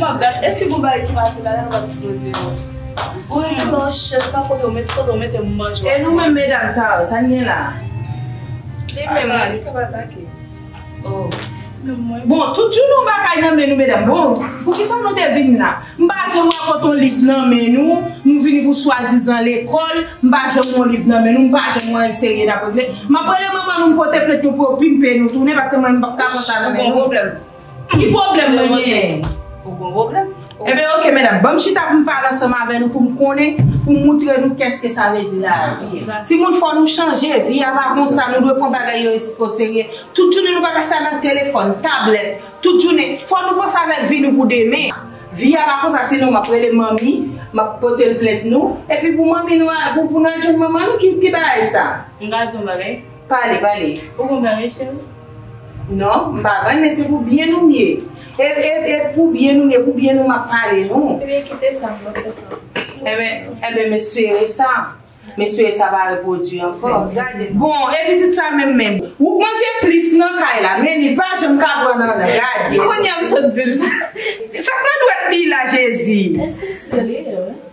Map gad e si gon bagay ki pa di la lèl wap di yo di yo. Ou rete lò chèz pa kote ou met kote ou mete moun manje wap manje. E nou menm medam sa yo sa n gen la. Li menm la li kap atake. Oh. Bon tout jounen yon bagay nan men nou medam bon poukisa nou te vin la m pa janm wè pot yon liv nan men nou nou vini pou swadizan lekòl m pa janm wè yon liv nan men nou m pa janm wè yon serye dap regle m ap rele manman nou m pote plent nou pou yo pimpe nou tounen paske mwen m pap ka pran sa nan men nou. Ki pwoblèm mwen genyen? Ou gon pwoblèm? Enben ok medam, banm chita poum pale ansanm avè nou poum konnen, poum moutre nou kèske sa vle di lavi. Timoun fò nou chanje, vi a pa konsa, nou dwe pran bagay yo oserye. Tout jounen nou pa ka chita nan telefòn, tablèt, tout jounen. Fò nou panse avèk vi nou pou demen an. Vi a pa konsa sinon map rele manmi, map pote l plent nou, epi pou manmi nou al, pou nou al jwenn manman nou, ki bagay sa? M ka di yon bagay? Pale, pale. Ou konprann wi cheri? Non, m pa konprann men se pou byen nou mye. E, e, e pou byen nou mye, pou byen nou m ap pale non. Ebyen kite sa, m ap fè sa. Enben, enben m espere sa. M espere sa pa repwodui ankò. Gade. Bon, e pitit sa menm menm. Ou k manje plis nan kay la, men li pa janm ka pran nan nan. Gade. Kounye a m sot di l sa. Sa k nan dwèt li la Jezi? Esi serye wi.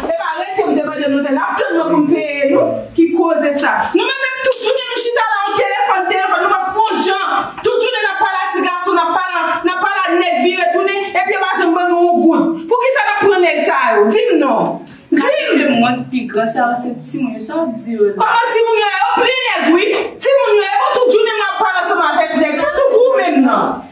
Epa rete m te mande nou se nap tann mwen poum peye nou ki koze sa nou menm menm tout jounen nou chita la an telefòn telefòn nou pap fon jan tout jounen nap pale a ti gason nap pale a nap pale a nèg vire tounen epi yo pa janm ban nou on goud poukisa nap pran nèg sa yo dim non dim se mwen k pi gran sa yo se timoun yo sa wap di yo la. Koman timoun yo ye yo plen nèg wi timoun yo ye bon tout jounen map pale ansanm avèk nèg se tou ou menm nan.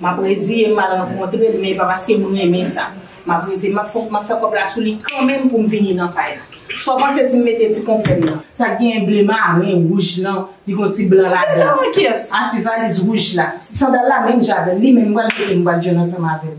M ap reziye m m al rankontre l men e pa paske m renmen sa. M ap reziye m fòk m ap fè kòb la sou li kanmenm pou m vini nan kay la. Sa w panse si m mete ti konplè m nan? Sa k genyen ble maren, wouj lan, li gen yon ti blan ladan l. Menm jan ak kiyès? Ak ti valiz wouj la. Sandal la menm jan avè l. Li menm m pral mete l m pral jwenn ansanm avè l.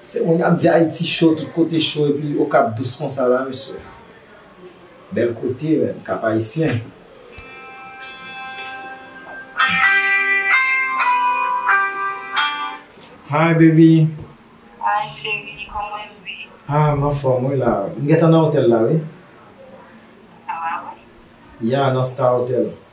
Se moun ap di ayiti cho tout kote cho epi okap dous konsa la mesye bèl kote menm kap ayisyen. Hi baby. Hi cheri kòman ou ye. Ah m anfòm wi la. M gentan nan otèl la wi. Ah wi? Yeah nan star hotel.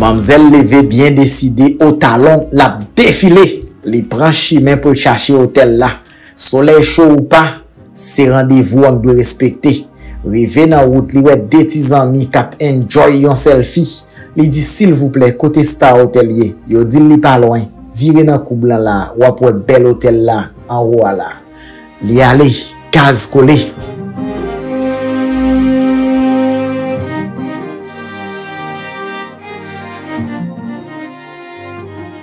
Manmzèl leve byen deside o talon lap defile. Li pran chimen pou l chache otèl la. Solèy cho ou pa, se randevou an k dwe respekte. Rive nan wout li wè 2 ti zanmi k ap enjoy yon sèlfi. Li di silvouplè kote Star Hotel ye? Yo di l li pa lwen, vire nan koub lan la w ap wè bèl otèl la anwo a la. Li ale, kaz kole.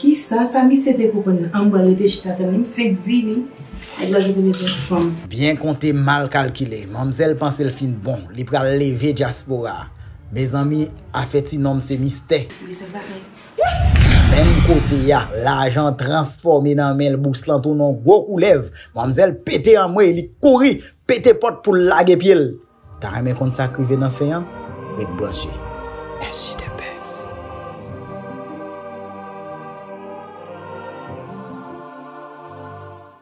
Kisa sa misye te konprann nan anmwee rete chita tann li m fenk vini nèg la kite bezwen fanm. Byen konte mal kalkile. Manmzèl panse l fin bon. Li pral leve dyaspora. Mezanmi, afè ti nonm se mistè. Menm kote a, lajan transfòme nan men l, bous lan tounen yon gwo koulèv. Manmzèl pete anmwey, li kouri, pete pòt pou l lage pye l. Ta renmen konn sak rive nan fen an? Ret branche. SJ the best.